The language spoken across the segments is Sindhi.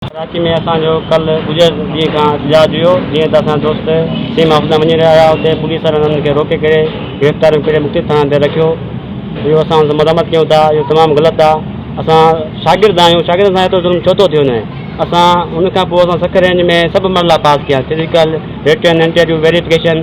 ڪراچي ۾ اسان جو ڪل گذريل ڏينهن کان احتجاج هيو جيئن ته اسان جا دوست سيم آفيس ڏانهن وڃي رهيا هيا اتي پوليس وارن انهن کي روڪي ڪري گرفتاريون ڪري مختلف ٿاڻن تي رکيو اهو اسان سندس مذمت ڪيون ٿا اهو تمام غلط آهي اسان شاگرد آهيون شاگردن سان ايترو ظلم ڇو ٿو ٿي وڃي اسان ان کان پوء اسان سک رينج ۾ سڀ مرحلا پاس ڪيا فزيڪل رٽن انٽرويو ويريفڪيشن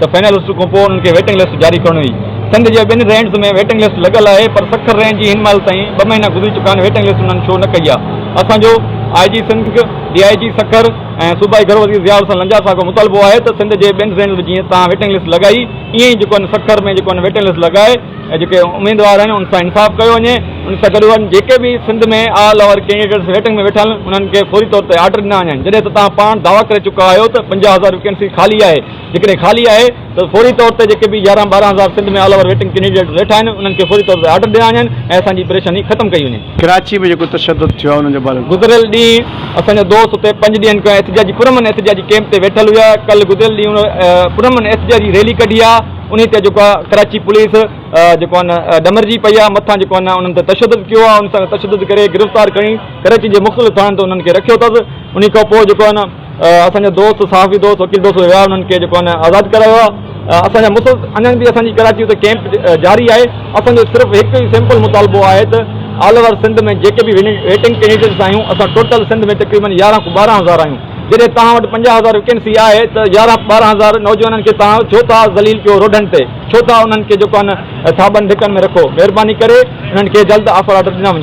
ته فائنل لسٽ کان پوء انهن کي ويٽنگ لسٽ جاري ڪرڻي هئي، سنڌ جي ٻن رينجز ۾ ويٽنگ لسٽ لڳل آهي پر سکر رينج جي هن مهل تائين ٻه مهينا گذري چڪا آهن ويٽنگ لسٽ انهن شو نه ڪئي آهي، اسان جو آء جي سنڌ، ڊي آء جي سکر ۽ صوبائي گهرو وزير ضياء الحسن لنجار صاحب کان مطالبو آهي ته سنڌ جي ٻين رينجز ۾ جيئن توهان ويٽنگ لسٽ لڳائي ايئن ئي جيڪو آهن سکر ۾ جيڪو آهن ويٽنگ لسٽ لڳائي جيڪي اميدوار آهن ان سان انصاف ڪيو وڃي ان سان گڏ وڃ جيڪي به Sindh ۾ all over candidates waiting ۾ ويٺا آهن انهن کي فوري طور تي آرڊر ڏنا وڃن جڏهن ته توهان پاڻ دعويٰ ڪري چڪا آهيو ته پنجاهه هزار ويڪنسي خالي آهي جيڪڏهن خالي آهي ته فوري طور تي جيڪي به يارهن ٻارهن هزار Sindh ۾ all over waiting candidate ويٺا آهن انهن کي فوري طور تي آرڊر ڏنا وڃن ۽ اسان جي پريشاني ختم ڪئي وڃي. ڪراچي ۾ جيڪو تشدد ٿيو آهي انهن جي باري ۾ ٻڌايو. گذريل ڏينهن اسان جا دوست اتي پنج ڏينهن کان احتجاجي پرامن احتجاجي ڪيمپ تي ويٺل هيا ڪل گذريل ڏينهن ان پرامن احتجاجي ريلي ڪڍي آ انهي تي جيڪو آ ڪراچي پوليس جيڪو آ نه ڏمرجي پئي آ مٿان جيڪو آ نه انهن تي تشدد ڪيو آ انهن سان تشدد ڪري گرفتار ڪري ڪراچي جي مختلف ٿاڻن تي انهن کي رکيو اٿس انهي کان پوء جيڪو آ نه اسان جا دوست صحافي دوست وڪيل دوست ويا انهن کي جيڪو آهن آزاد ڪرايو آهي اسان جا مسلسل اڃان به اسان جي ڪراچي اتي ڪيمپ جاري آهي اسان جو صرف هڪ ئي سمپل مطالبو آهي ته آل اوور سنڌ ۾ جيڪي به ويٽنگ ڪينڊيڊيٽس آهيون اسان ٽوٽل سنڌ ۾ تقريبن يارهن کان ٻارهن هزار آهيون جڏهن توهان وٽ پنجاهه هزار ويڪنسي آهي ته يارهن ٻارهن هزار نوجوانن کي توهان ڇو ٿا ذليل ڪيو روڊن تي ڇو ٿا انهن کي جيڪو آهن ٿاٻن ڌڪن ۾ رکو مهرباني ڪري انهن کي جلد آفر آرڊر ڏنا وڃن.